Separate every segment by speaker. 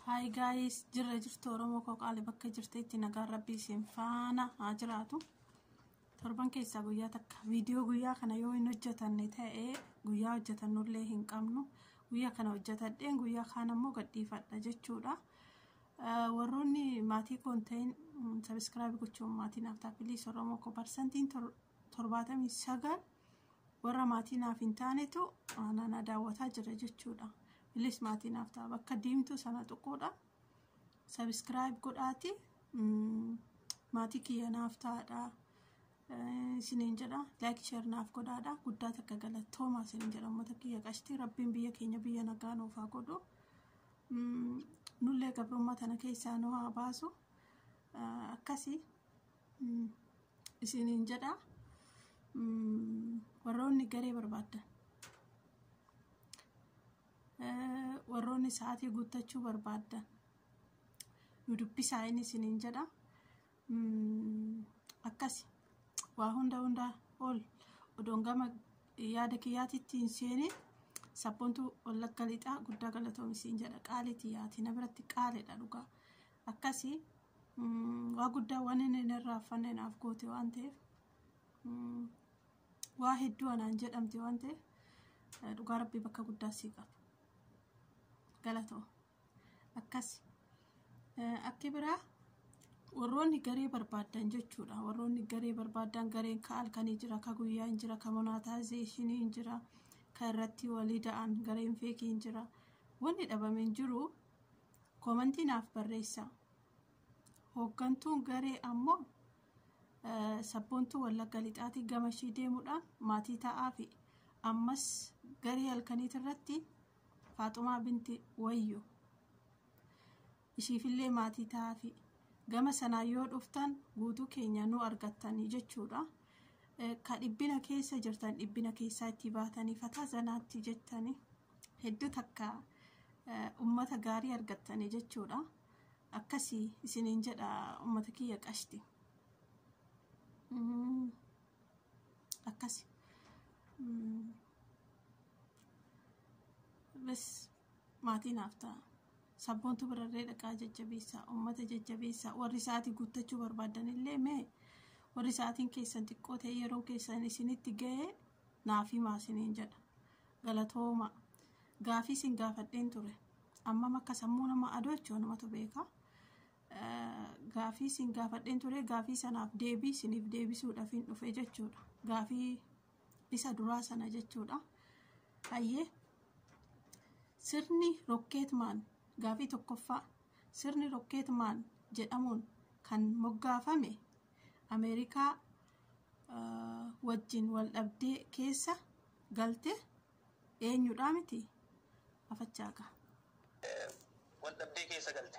Speaker 1: Hi guys, jirra jirtu Oromoo koo qaali bakka jirtetti nagaan rabbii isin faana haa jiraatu. Torban keessaa guyyaa takka viidiyoo guyyaa kana yoo hin hojjetanne ta'e guyyaa hojjetannullee hin qabnu. Guyyaa kana hojjetadheen guyyaa kaan ammoo gadhiifadha jechuudha. Warroonni maatii koo hin ta'in sabiskiraabii gochuun maatii naaf ta'a piliis Oromoo koo parsantiin torbaatamii sagal warra maatii naaf hin taanetu naannaa daawwataa jira jechuudha. Piliis maatii naaf ta'a bakka diimtuu sana tuquudha. Sabiskiraayib godhaati maatii kiyya naaf ta'aadha. Isiniin jedha laayik sheer naaf godhaadha guddaa takka galatoomaa isiniin jedha uummata kiyya qashtii rabbiin biyya keenya biyya nagaa nuuf haa godhu. Nullee gabrummaa tana keessaa nu haa baasu. Akkasi isiniin jedha warroonni garee barbaaddan. Warroonni sa'aatii guuttachuu barbaaddan. Nu dubbisaa inni isiniin jedha. akkasi waa hunda hundaa ol odoon gama yaada kiyyaatitti hin seenin sabboontu wallagga lixaa guddaa galatoomi siin jedha qaaliiti yaati na biratti qaaliidha dhugaa akkasi waa guddaa waan inni hin irraaffanne naaf goote waan ta'eef waa hedduu anaan jedhamte waan ta'eef dhugaa rabbii bakka guddaa sii qaba galatoo. akkasi akki biraa warroonni garee barbaaddan jechuudha warroonni garee barbaaddan gareen ka halkanii jira ka guyyaa hin jira ka monaataayizeeshinii hin jira ka irratti walii da'an gareen feekii hin jira wanni dhabame hin jiru koomantii naaf barreessa hooggantuun garee ammoo sabboontuu wallagga lixaatii gama ishii deemuudhaan maatii ta'aafi ammas garee halkaniitirratti Faaxumaa binti Wayyu. Ishiifillee maatii ta'aafi. Gama sanaan yoo dhuftan guutuu keenya nu argattanii jechuudha. Ka dhibbina keessa jirtan dhibbina keessaa itti baatanii fataa zanaatti jettanii hedduu takka ummata gaarii argattanii jechuudha. Akkasii isiniin jedha ummata kiyya qashti. Akkasi. Bes maatii naaf ta'a. Sabboontu birarree dhaqaa jajjabeessaa uummata jajjabeessaa warri sa'aatii guuttachuu barbaadanillee mee warri sa'aatiin keessan xiqqoo ta'e yeroon keessan isinitti ga'ee naaf himaa isiniin jedha. Galatooma gaafii isin gaafadheen ture ammam akka sammuu nama adoochoo namatu beeka. Gaafii isin gaafadheen ture gaafii sanaaf deebii isiniif deebisuudhaaf hin dhufe jechuudha. Gaafii isa duraa sana jechuudha. Hayyee sirni rokkeetmaan gaafii tokkoffaa sirni rokkeetmaan jedhamuun kan moggaafame Ameerikaa wajjin wal dhabdee keessa galte eenyudhaa miti afachaagaa.
Speaker 2: Wal dhabdee keessa galte.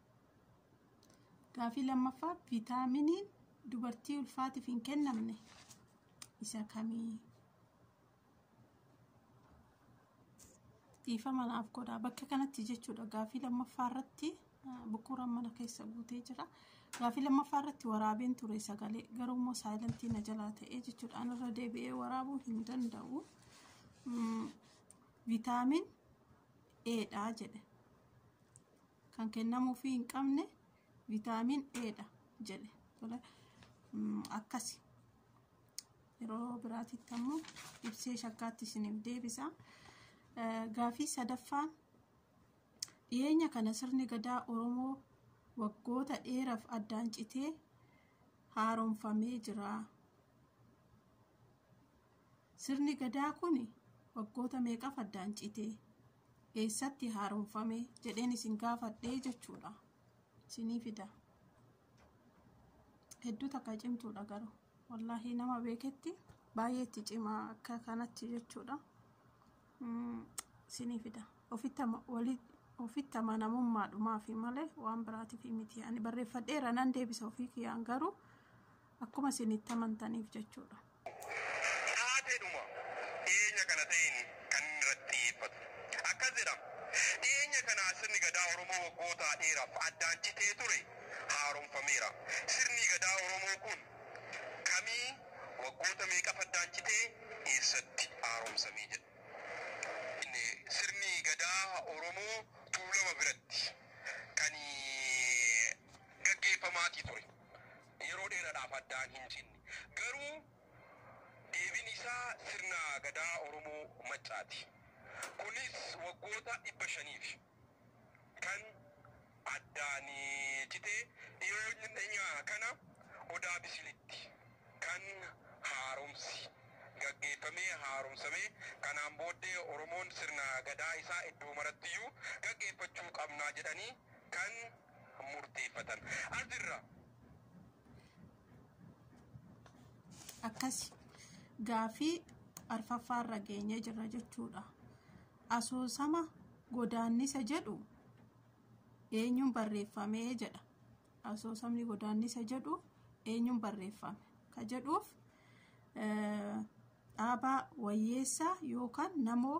Speaker 1: Gaafii lammaffaa viitaaminiin dubartii ulfaatiif hin kennamne isa kamii? Dhiifama naaf godhaa. Bakka kanatti jechuudha gaafii lammaffaa irratti bukuuraan mana keessa guutee jira. Gaafii lammaffaa irratti waraabeen ture sagalee garuu immoo saayilantii na jalaa ta'ee jechuudha. Anarra deebi'ee waraabuu hin danda'u. Viitaamin Eedhaa jedhe. kan kennamuufii hin qabne vitaamin A dha jedhe. Tole akkasi. Yeroo biraatitti ammoo ibsee shakkaatti isiniif deebisa. Gaafii sadaffaan dhiyeenya kana sirni gadaa Oromoo waggoota dheeraaf addaan citee haaromfamee jira. Sirni gadaa kun waggoota meeqaaf addaan citee? eessatti haaromfame jedheen isin gaafadhe jechuudha. Isinii fida. Hedduu takka cimtuudha garuu. Wallaahi nama beeketti baay'ee itti cimaa akka kanatti jechuudha. Mm, Isinii fida. Ofitti ama- wali- ofitti amanamummaadhumaafi malee waan biraatiif miti. Ani barreeffadheera nan deebisa ofii kiyyaan garuu akkuma isin itti amantaniif jechuudha.
Speaker 2: Taateedhuma dhiyeenya kana ta'een kan inni irratti xiyyeeffatu. Akkas jedha, Dhiyeenya kana sirni Gadaa Oromoo waggootaa dheeraaf addaan citee ture haaromfameera. Sirnii Gadaa Oromoo kun kamii, waggoota meeqaf addaan citee, eessatti haaromsamee jedha. Inni sirni Gadaa Oromoo Tuulama biratti kan gaggeeffamaatii ture. yeroo dheeradhaaf addaan hin cinne. Garuu deebin isaa sirna Gadaa Oromoo Maccaati. Kunis waggoota 500f kan addaan cite dhiyoodhnya kana Odaa Bisilitti kan haaromsi gaggeeffamee haaromsame. Kanaan booddee Oromoon sirna Gadaa isaa iddoo marattiyyuu gaggeeffachuu qabna jedhanii kan. murteeffatan asirra.
Speaker 1: akkasi gaafii arfaffaarra geenye jirra jechuudha asoosama godaannisa jedhu eenyuun barreeffame jedha asoosamni godaannisa jedhu eenyuun barreeffame ka jedhuuf dhaabaa wayyeessaa yookaan namoo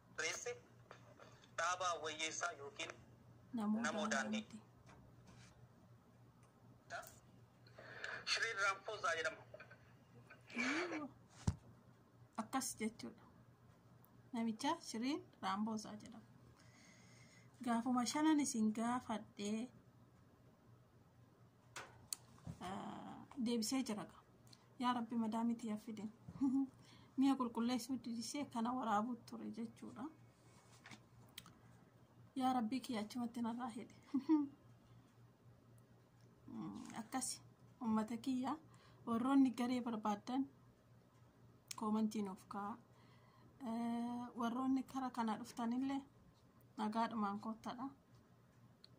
Speaker 2: Barreesse, Dhaabaa Wayyeessaa ykn Namoo Daandii. Das, Shriin Raamfoozaa
Speaker 1: jedhama. Akkas jechuudha. Namicha Shriin Raamfoozaa jedhama. Gaafuma shanan isin gaafadhee deebisee jira gaa yaa rabbi madaamitti yaffidin mi'a qulqulleessuu didisee kana waraabuu ture jechuudha yaa rabbii kiyya achumatti narraa hidhe akkasi ummata kiyya warroonni garee barbaadan koomantii nuuf ka'a warroonni kara kana dhuftanillee nagaadhumaan koottadha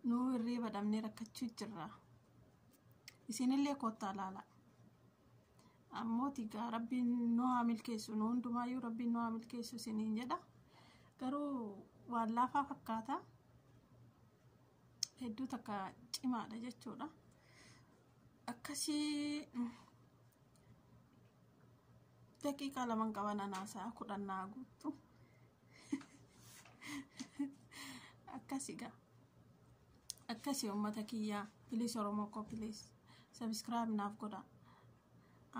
Speaker 1: Nuu hirriiba dhabnee rakkachuu jirra. Isinillee koottaa laala. Ammoo tigaa rabbiin nu haa milkeessu nu hundumaayyuu rabbiin nu haa milkeessu isiniin jedha. Garuu waan laafaa fakkaata. Hedduu takka cimaadha jechuudha. Akkasii daqiiqaa lamaan qaban anaasaa kudhan naa guuttu. akkasi gaa akkasi ummata kiyyaa piliis oromoo koo piliis sabiskiraayib naaf godha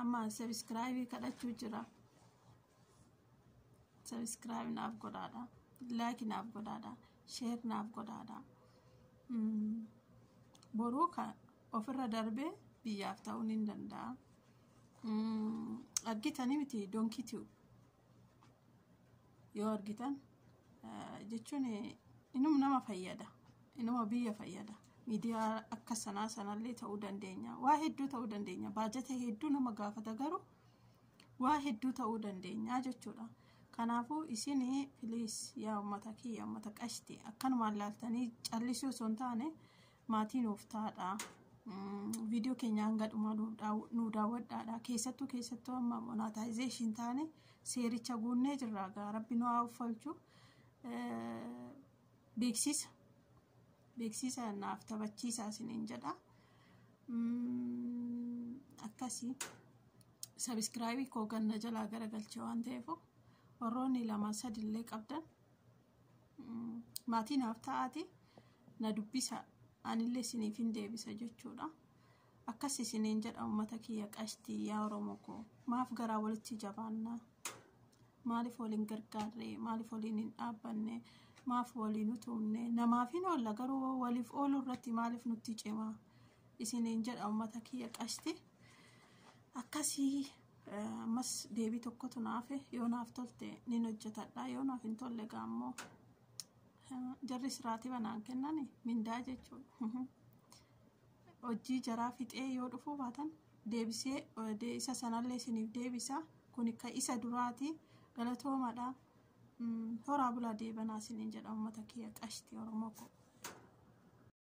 Speaker 1: amma sabiskiraayibii kadhachuu jira sabiskiraayib naaf godhaadha laaki naaf godhaadha sheer naaf godhaadha boruu ka ofirra darbee biyyaaf ta'uu ni danda'a argitanii miti donkii tiyu yoo argitan jechuun inuma nama fayyada inuma biyya fayyada miidiyaa akka sanaa sanallee ta'uu dandeenya waa hedduu ta'uu dandeenya baajata hedduu nama gaafata garuu waa hedduu ta'uu dandeenya jechuudha kanaafuu isin piliis yaa ummata kiyya ummata qashti akkanumaan laaltanii callisuu osoo hin taane maatii nuuf taadha. Viidiyoo keenya hanga dhumaa nuu daawwadhaadha. Keessattuu keessattuu amma monaataayizeeshin taane seericha guunnee jirra. Egaa rabbi nu haa uffalchu. Beeksisa. Beeksisa naaf taphachiisaa isiniin jedha. Akkasii sabiskiraabii koo ganna jalaa garagalchee waan ta'eef warroonni lama sadillee qabdan maatii naaf ta'aati na dubbisa anillee isiniif hin deebisa jechuudha akkas isiniin jedha ummata kiyya qashtii yaa oromoo koo maaf garaa walitti jabaanna maaliif waliin gargaarre maaliif waliin hin dhaabbanne maaf waliin utumne namaaf hin oolla garuu waliif ooluu irratti maaliif nutti cimaa isiniin jedha ummata kiyya qashtii akkasii ammas deebii tokkotu naafe yoo naaf tolte nin hojjetadha yoo naaf hin tolle egaa ammoo jarri siraatii banaan kennani mindaa jechuudha hojii jaraa fixee yoo dhufuu baatan deebisee isa sanallee isiniif deebisa kun ka isa duraati galatoomadha horaa bulaa deebanaa isiniin jedha uummata kiyya qashti oromoo koo